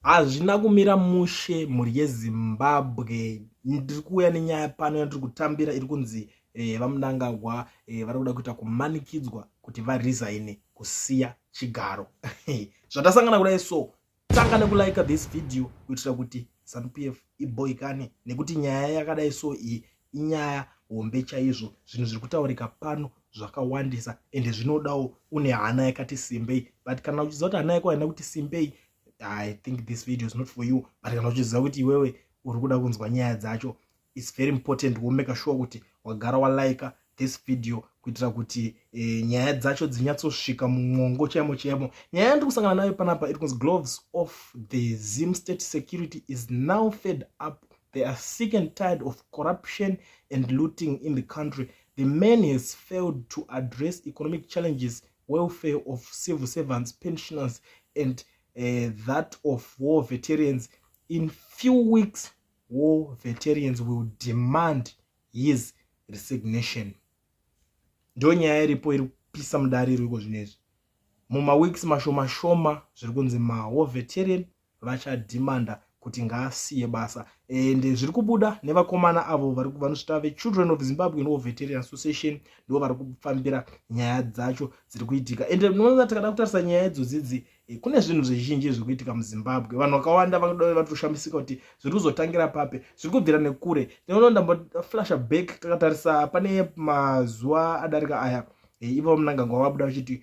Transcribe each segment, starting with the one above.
hazvina kumira mushe mhuri yezimbabwe ndiri kuuya nenyaya pano yandiri kutambira iri kunzi eh, vamunangagwa eh, vari kuda kuita kumanikidzwa kuti varesign kusiya chigaro zvatasangana kudai so tanga nekulike this video kuitira kuti zanup f iboikane nekuti nyaya yakadai so iyi inyaya hombe chaizvo zvinhu zviri kutaurika pano zvakawandisa ende zvinodawo une hana yakati simbei but kana uchiziva kuti hana yako haina kuti simbei i think this video is not for you but kana uchiziva kuti iwewe uri kuda kunzwa nyaya dzacho its very important womeka sure kuti wagara walaika this video kuitira kuti e, nyaya dzacho dzinyatsosvika mumwongo chaimo chaimo nyaya yandiri kusangana nayo panapa iri kunzi gloves of the zim state security is now fed up they are sick and tired of corruption and looting in the country the man has failed to address economic challenges welfare of civil servants pensioners and uh, that of war veterans in few weeks war veterans will demand his resignation ndo nyaya iripo iri kupisa mudare iriko zvino izvi mumaweeks mashoma shoma zviri kunzi mawar veteran vachadhimanda kuti ngaasiye basa and zviri kubuda nevakomana avo vanozvita vechildren of zimbabwean war veterian association ndivo vari kufambira nyaya dzacho dziri kuitika and noona tikada kutarisa nyaya idzodzidzi eh, kune zvinhu zvizhinji zviri kuitika muzimbabwe vanhu vakawanda vanoda vatoshamisika kuti zviri kuzotangira papi zviri kubvira nekure tinoona ndamboflasha back takatarisa pane mazuva adarika aya eh, ivo munangangwa vabuda vachiti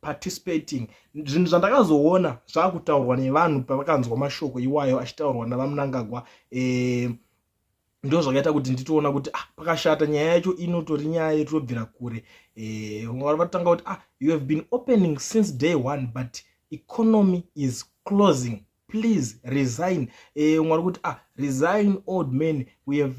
participating zvinhu zvandakazoona zvakutaurwa nevanhu pavakanzwa mashoko iwayo achitaurwa navamunangagwa eh, ndo zvakaita kuti nditoona kuti ah, pakashata nyaya yacho inotori nyaya yetobvira kure eh, vamwe vari vatanga kuti ah, you have been opening since day one but economy is closing please resign eh, umwe ari kuti ah resign old man we have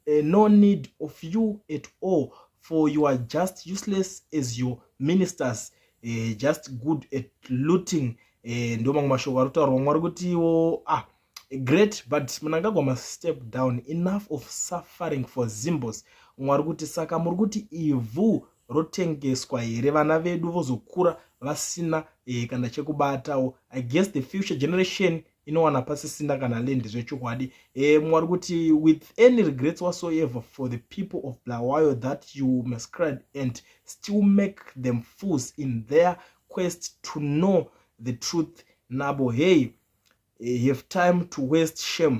eh, no need of you at all for you are just useless as your ministers eh, just good at looting eh, ndo mamwe mashoko ari kutaurwa umwe ari kutiwo ah great but munangagwa mastep down enough of suffering for zimbos umwe ari kuti saka muri kuti ivhu rotengeswa here vana vedu vozokura vasina eh, kana chekubatawo i guess the future generation inowana pasisina kana land zvechokwadi eh, mwari kuti with any regrets whatsoever for the people of blawayo that you mascribe and still make them fools in their quest to know the truth nabo hey eh, have time to waste shame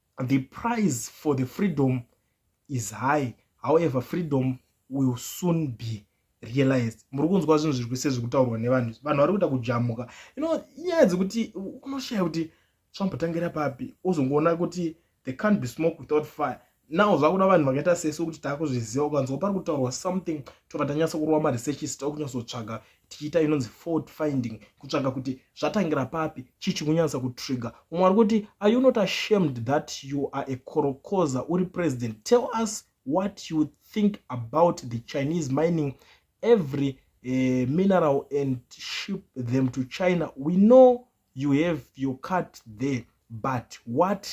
the price for the freedom is high however freedom will soon be realized muri kunzwa zvinhu zviri kuise zviri kutaurwa nevanhu vanhu vari kuita kujamuka you know nyaya dzekuti unoshaya kuti zvambotangira papi ozongoona kuti they can't be smoke without fire now zvakuda vanhu vakaita sese kuti taakuzviziva ukanzwa pari kutaurwa something tobva tanyatsa kurova maresearchist okunyatsotsvaga tichiita inonzi fault finding kutsvaga kuti zvatangira papi chii chikunyanyisa kutrigger umwe ari kuti are you not ashamed that you are a korokoza uri president tell us what you think about the chinese mining every uh, mineral and ship them to china we know you have your cut there but what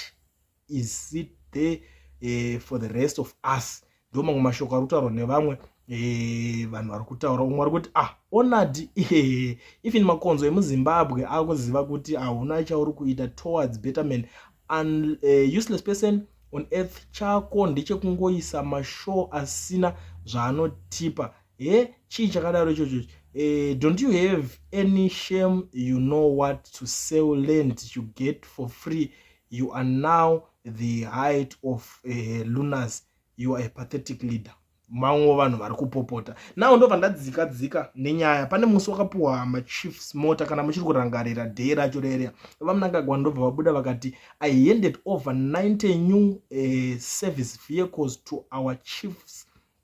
is it there uh, for the rest of us ndo mamwe mashoko ari kutaurwa nevamwe eh, vanhu vari kutaura umwe ari kuti ah onadi eh, even makonzo emuzimbabwe akuziva kuti hauna chauri kuita towards betterman an uh, useless person on earth chako ndechekungoisa mashow asina zvaanotipa he chii chakadaro ichocho eh, don't you have any shame you know what to sell land to get for free you are now the height of eh, lunas you are a pathetic leader mamwewo vanhu vari kupopota nawo ndobva ndadzika dzika nenyaya pane musi wakapiwa machiefs mota kana muchiri kurangarira dhei racho rerea vamunangagwa ndobva vabuda vakati i handed over 90 new uh, service vehicles to our chiefs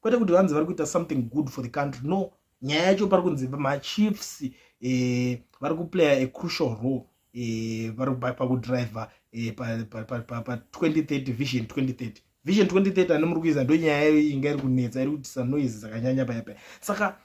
kwete kuti vanzi vari kuita something good for the country no nyaya yacho pari kunzi machiefs eh, vari kuplaya a crucial role eh, vari eh, pakudriver eh, pa2030 vision 2030 vision 2030 ane muri kuiza ndo nyaya yayo inga iri kunetsa iri kutisa noise dzakanyanya paya paya saka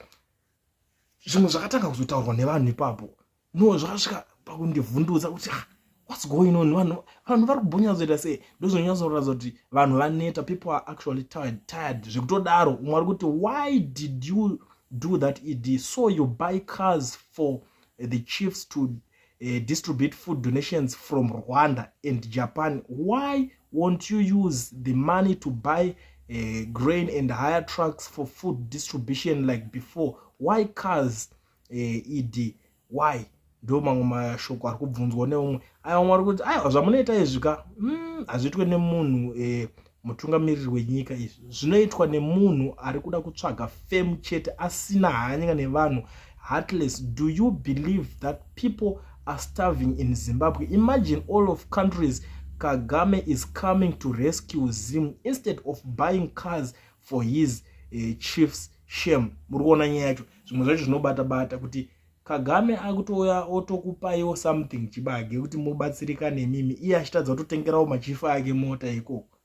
zvimwe zvakatanga kuzotaurwa nevanhu ipapo no zvakasvika pakundivhundutsa kuti ah, what's going on vanhu vanhu vari kubhonyatsoita sei ndozonyatsoratidza kuti vanhu vaneta people are actually tired tired zvekutodaro umwe ari kuti why did you do that ed so you buy cars for eh, the chiefs to uh, distribute food donations from rwanda and japan why won't you use the money to buy uh, grain and higher trucks for food distribution like before why cars eh, ed why ndo mamwe mashoko ari kubvunzwa neumwe aya vamwe vari kuti aiwa zvamunoita izvi ka mm, hazviitwe nemunhu eh, mutungamiriri wenyika izvi zvinoitwa nemunhu ari kuda kutsvaga fame chete asina hanyika nevanhu heartless do you believe that people are starving in zimbabwe imagine all of countries kagame is coming to rescue zim instead of buying cars for his uh, chiefs shame muri kuona nyaya yacho zvimwe zvacho zvinobata bata kuti kagame akutouya otokupaiwo something chibage kuti mobatsirika nemimi iye achitadza kutotengerawo machifi ake mota ikoko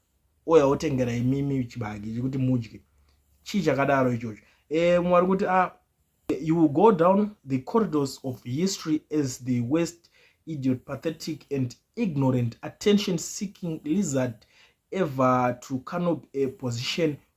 ouya otengera imimi chibage chekuti mudye chii chakadaro ichocho e, mwari kuti a ah, you will go down the corridors of history as the west idiot pathetic and ignorant attention seeking lizard ever to canop a position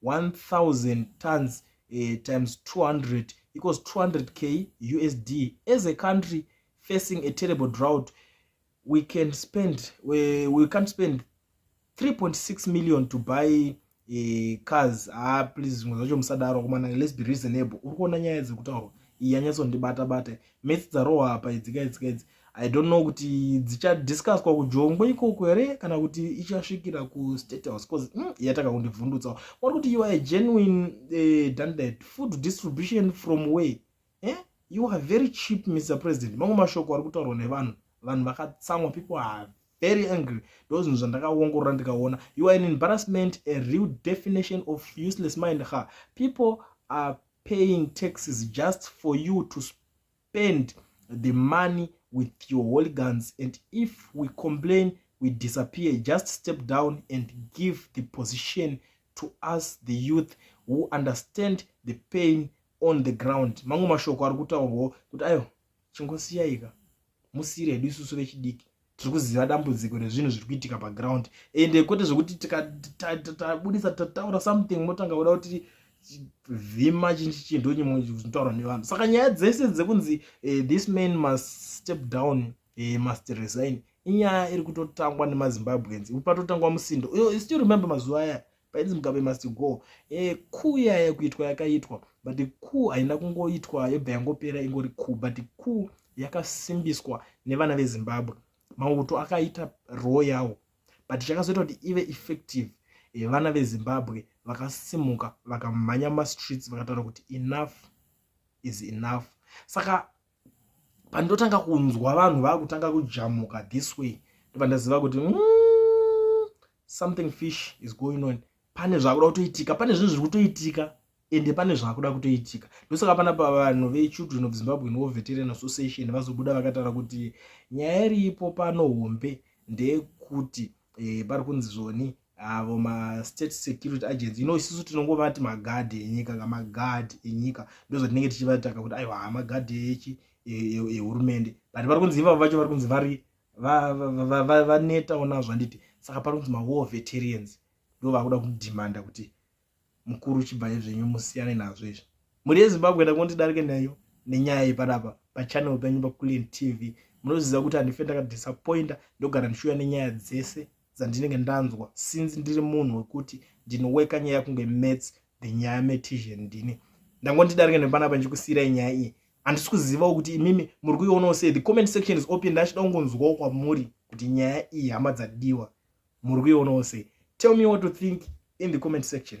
1000 tons uh, times 200 equals 200 k usd as a country facing a terrible drought we can spend we, we can't spend 3.6 million to buy uh, cars ah please zvimwe zvacho musadaro komana let's be reasonable uri kuona nyaya dzekutaurwa yanyatsondibata bata mets dzarohwa apa idzika idzika idzi i don't know kuti dzichadiscuswa kujongwe ikoko here kana kuti ichasvikira kustate house bcause mm, yataka kundibvundutsa kwari kuti you are a genuine uh, eh, dandet food distribution from way eh? you are very cheap mr president mamwe mashoko ari kutaurwa nevanhu vanhu vakatsamwa people are very angry ndozvinhu zvandakaongorora ndikaona you are an embarrassment a real definition of useless mind ha people are paying taxes just for you to spend the money with your holy guns and if we complain we disappear just step down and give the position to us the youth who understand the pain on the ground mamwe mashoko ari kutaurwawo kuti ayo chingosiyaika musiire hedu isusu vechidiki tiri kuziva dambudziko rezvinhu zviri kuitika paground ende kwete zvekuti tikabudisa tataura something motanga kuda kuti vhima chinchi chinhu chimwe zvinotaurwa nevanhu saka nyaya dzese dzekunzi eh, this man must step down eh, must resign inyaya iri kutotangwa nemazimbabweans patotangwa musindo isu remember mazuva aya painzi mugabe must go e, kuu yaya kuitwa yakaitwa but kuu haina kungoitwa yobva yangopera ingori kuu but kuu yakasimbiswa nevana vezimbabwe mauto akaita roo yawo but chakazoita kuti ive effective e, vana vezimbabwe vakasimuka vakamhanya mumastreets vakataura kuti enough is enough saka pandotanga kunzwa vanhu vakutanga kujamuka this way ndopandaziva kuti mm, something fish is going on pane zvakuda kutoitika pane zvinhu zviri kutoitika ende pane zvakuda kutoitika ndosaka pana pa vanhu vechildren of zimbabwe no veteran association vazobuda vakataura kuti nyaya iripo pano hombe ndeyekuti e, pari kunzi zvoni avo mastate security agents you know isusu tinongovati magadhi enyika ka magadhi enyika ndozvatinenge tichivataka kuti aiwa hamagadhi echi ehurumende e, e, but vari kunzi ivavo vacho vari kunzi vari vanetawo nazvo handiti saka pari kunzi mawar veterans ndo vakuda kudimanda kuti mukuru chibvaye zvenyu musiyane nazvo izvi mhuri yezimbabwe da kondidarike nayo nenyaya yepanapa pachannel penyu paculin tv munoziva kuti handife ndakadisappointa ndogara ndichiuya nenyaya dzese dzandinenge ndanzwa since ndiri munhu wekuti ndinoweka nyaya kunge mats the nyaya metision ndini ndangondidarike nepanapa ndichikusiyirai nyaya iyi handisi kuzivawo kuti imimi muri kuionawo sei the comment section is open ndachida kungonzwawo kwamuri kuti nyaya iyi hama dzadiwa muri kuionawo sei tell me what to think in the comment section